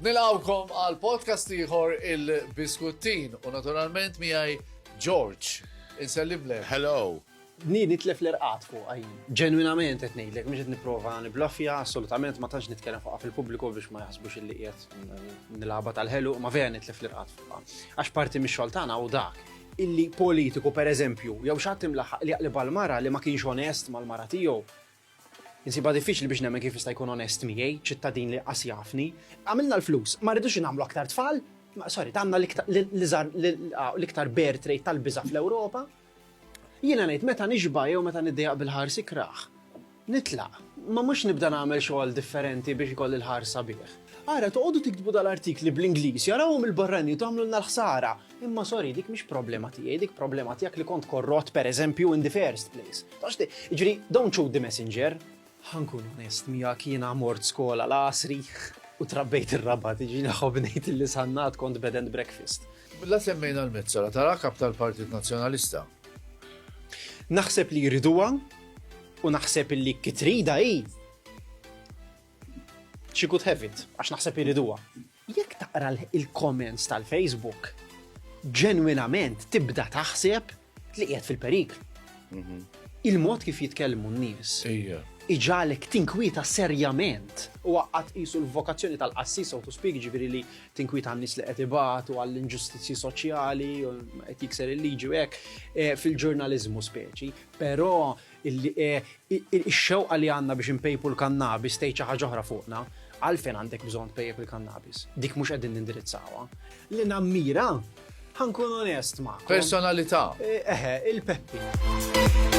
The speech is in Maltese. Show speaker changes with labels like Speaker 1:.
Speaker 1: Nilawkom għal podcast ieħor il-Biskuttin u naturalment miegħi George. Insellimlek. Hello. Ni nitlef l-irqat fuq għajn. Ġenwinament qed ngħidlek mhux qed nipprova niblaffja assolutament ma tantx nitkellem fuqha fil-pubbliku biex ma jaħsbux illi qiegħed nilagħba tal-ħelu ma vera nitlef l-irqat fuqha. Għax parti mix-xogħol tagħna u dak illi politiku, per eżempju, jew xi ħadd imlaħħaq li jaqleb għal mara li ma kienx onest mal-mara tiegħu, Insibha diffiċli biex nemmen kif jista' jkun onest miegħi, ċittadin li qas jafni. Għamilna l-flus, ma rridux nagħmlu aktar tfal, sorry, għandna l-iktar ah, bear trade tal-biża fl-Ewropa. Jiena ngħid meta nixba jew meta niddejaq bil-ħarsi kraħ. Nitlaq, imma mhux nibda nagħmel xogħol differenti biex ikolli l-ħahar sabiħ. Ara, toqogħdu tiktbu dal-artikli bl-Ingliż, jarawhom il-barranin u tagħmlulna l-ħsara. Imma sorry, dik mhix problema tiegħi, dik problema tiegħek li kont korrott, pereżempju, in the first place. Taf x'ti, jiġri, don't shoot the messenger. Ħa nkun onest miegħek, jiena mort skola l-għasri u trabbejt ir-Rabat, jiġri nħobb ngħid li sannat kont bed and breakfast. La semmejna l-Mezzola, tara kap tal-Partit Nazzjonalista. Naħseb li jriduha u naħseb illi kitrida hi she could have it, għax naħseb jriduha. Jekk taqra il-comments tal-Facebook, ġenwinament tibda taħseb li qiegħed fil-perikl. Mhm. Il-mod kif jitkellmu n-nies. Iġalek tinkwieta serjament u għaqqat isu l-vokazzjoni tal-qassis u speak ġifiri li tinkwieta għan-nies li qed ibatu għall-inġustizzji soċjali, qed jikser il-liġi u hekk e, fil-ġurnaliżmu speċi, però e, ix-xewqa li għandna biex impejpu l-kannabis tgħid xi ħaġa oħra fuqna, għalfejn għandek bżonn tpejjep il-kannabis. Dik mhux qegħdin nindirizzawha. Li nammira, ħankun onest ma'. Personalità. E, eħe, il-Peppi.